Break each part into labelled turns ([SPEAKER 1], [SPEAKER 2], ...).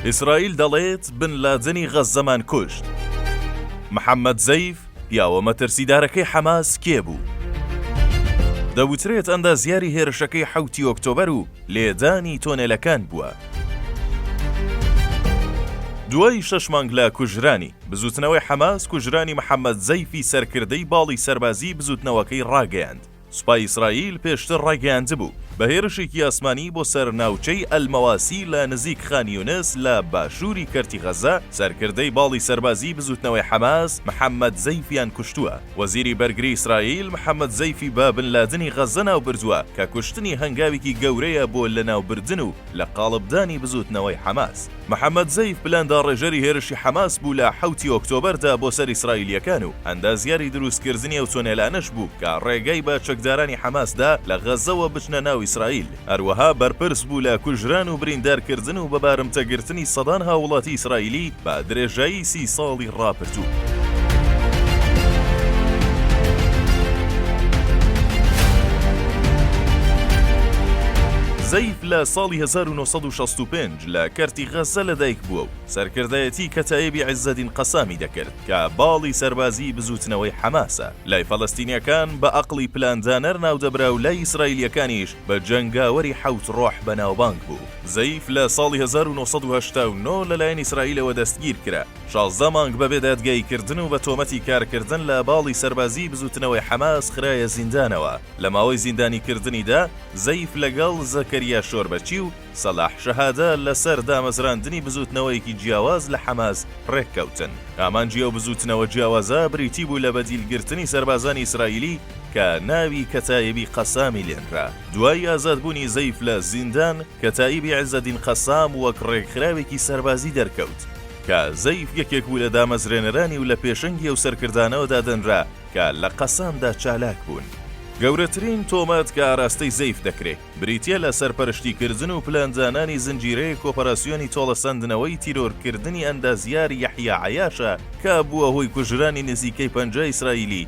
[SPEAKER 1] ئیسرائیل دەڵێت بن لادنی غەززەمان کوشت محەممەد زەیف پیاوە مەترسیدارەکەی حەماس کێ بوو؟ دەوترێت ئەندازیاری هێرشەکەی حەوتی ئۆکتۆبەر و لێدانی تۆنێلەکان بووە. دوای شەش مانگ لە کوژرانی بزوتنەوەی حەماس کوژرانی محەممەد زەیفی سەرکردەی باڵی سەربازی بزوتنەوەکەی ڕاگەیاند. سوپای ئیسرائیل پێشتر ڕایگەیاندبوو، بە هێرشێکی ئاسمانی بۆ سەر ناوچەی ئەلمەواسی لە نزیک خان یونس لە باشووری کەرتی غەززە، سەرکردەی باڵی سەربازیی بزووتنەوەی حەماس محەممەد زەیفیان کوشتووە. وەزیری بەرگری ئیسرائیل محەممەد زەیفی بە بن لادنی غەززە ناوبردووە کە کوشتنی هەنگاوێکی گەورەیە بۆ لەناوبردن و لە قاڵبدانی بزووتنەوەی حەماس. محەمەد زەیف پلان داڕێژەری هێرشی حەماس بوو لە حەوتی ئۆکتۆبەردا بۆ سەر ئیسرائیلییەکان و ئەندازیاری دروستکردنی ئەو تونێلانەش بوو کە ڕێگەی بە چەکدارانی حەماس دا لە غەززەوە بچنە ناو ئیسرائیل. هەروەها بەرپرس بوو لە کوژران و بریندارکردن و بە بارمتەگرتنی سەدان هاووڵاتی ئیسرائیلی بە درێژایی سی ساڵی ڕاپرتوو. زەیف لە ساڵی 1965 لە کەرتی غەززە لەدایک بووە و سەرکردایەتی کەتایبی عزەدین قەسامی دەکرد کە باڵی سەربازی بزووتنەوەی حەماسە لای فەلەستینیەکان بە ئەقڵی پلاندانەر ناودەبرا و لای ئیسرائیلیەکانیش بە جەنگاوەری حەوت ڕۆح بەناوبانگ بوو. زەیف لە ساڵی هەزار و نۆ سەد و هەشتا و نۆ لەلایەن ئیسرائیلەوە دەستگیرکرا، شازدە مانگ بەبێ دادگاییکردن و بە تۆمەتی کارکردن لە باڵی سەربازیی بزووتنەوەی حەماس خرایە زیندانەوە، لە ماوەی زیندانیکردنیدا زەیف لەگەڵ زەکەریا شۆربەچی و سەلاح شەهادە لەسەر دامەزراندنی بزووتنەوەیەکی جیاواز لە حەماس رێککەوتن، ئامانجی ئەو بزووتنەوە جیاوازە بریتی بوو لە بەدیلگرتنی سەربازانی ئیسرائیلی کە ناوی کەتائیبی قەسامی لێنرا دوای ئازادبوونی زەیف لە زیندان، کەتائیبی عیزەدین قەسام وەک ڕێکخراوێکی سەربازی دەرکەوت، کە زەیف یەکێک بوو لە دامەزرێنەرانی و لە پێشەنگی ئەو سەرکردانەوە دادەنرا کە لە قەسامدا چالاک بوون. گەورەترین تۆمەت کە ئاراستەی زەیف دەکرێ، بریتییە لە سەرپەرشتیکردن و پلاندانانی زنجیرەیەک ئۆپەراسیۆنی تۆڵەسەندنەوەی تیرۆرکردنی ئەندازیار یەحیا عەیاشە کە بووە هۆی کوژرانی نزیکەی پەنجا ئیسرائیلی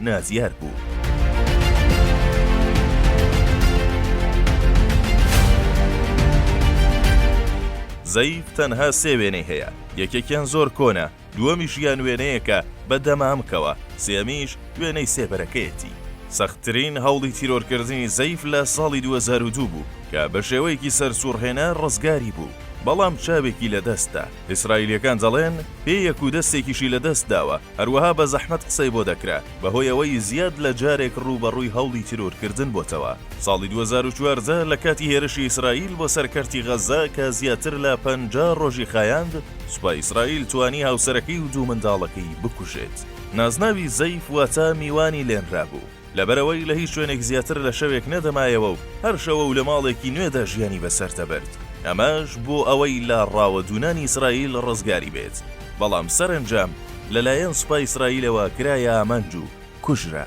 [SPEAKER 1] نادیار بوو. زەیت تەنها سێ وێنەی هەیە، یەکێکیان زۆر کۆنە، دووەمیش یان وێنەیەکە بە دەمامکەوە، سێیەمیش وێنەی سێبەرەکەیەتی. سەختترین هەوڵی تیرۆرکردنی زەیف لە ساڵی دوو هەزار و دوو بوو کە بە شێوەیەکی سەرسووڕهێنەر ڕزگاری بوو، بەڵام چاوێکی لەدەستدا. ئیسرائیلییەکان دەڵێن، پێیەک و دەستێکیشی لەدەست داوە، هەروەها بە زەحمەت قسەی بۆ دەکرا، بەهۆی ئەوەی زیاد لە جارێک ڕووبەڕووی هەوڵی تیرۆرکردن بۆتەوە. ساڵی دوو هەزار و چواردە لە کاتی هێرشی ئیسرائیل بۆ سەر کەرتی غەززە کە زیاتر لە پەنجا ڕۆژی خایاند، سوپای ئیسرائیل توانی هاوسەرەکەی و دوو منداڵەکەی بکوژێت. نازناوی زەیف واتە میوانی لێنرابوو. لەبەرئەوەی لە هیچ شوێنێک زیاتر لە شەوێک نەدەمایەوە و هەر شەوە و لە ماڵێکی نوێدا ژیانی بەسەر دەبرد، ئەمەش بۆ ئەوەی لە ڕاوە دوونانی ئیسرائیل ڕزگاری بێت، بەڵام سەرەنجام لەلایەن سوپای ئیسرائیلەوە کرایە ئامانج و کوژرا.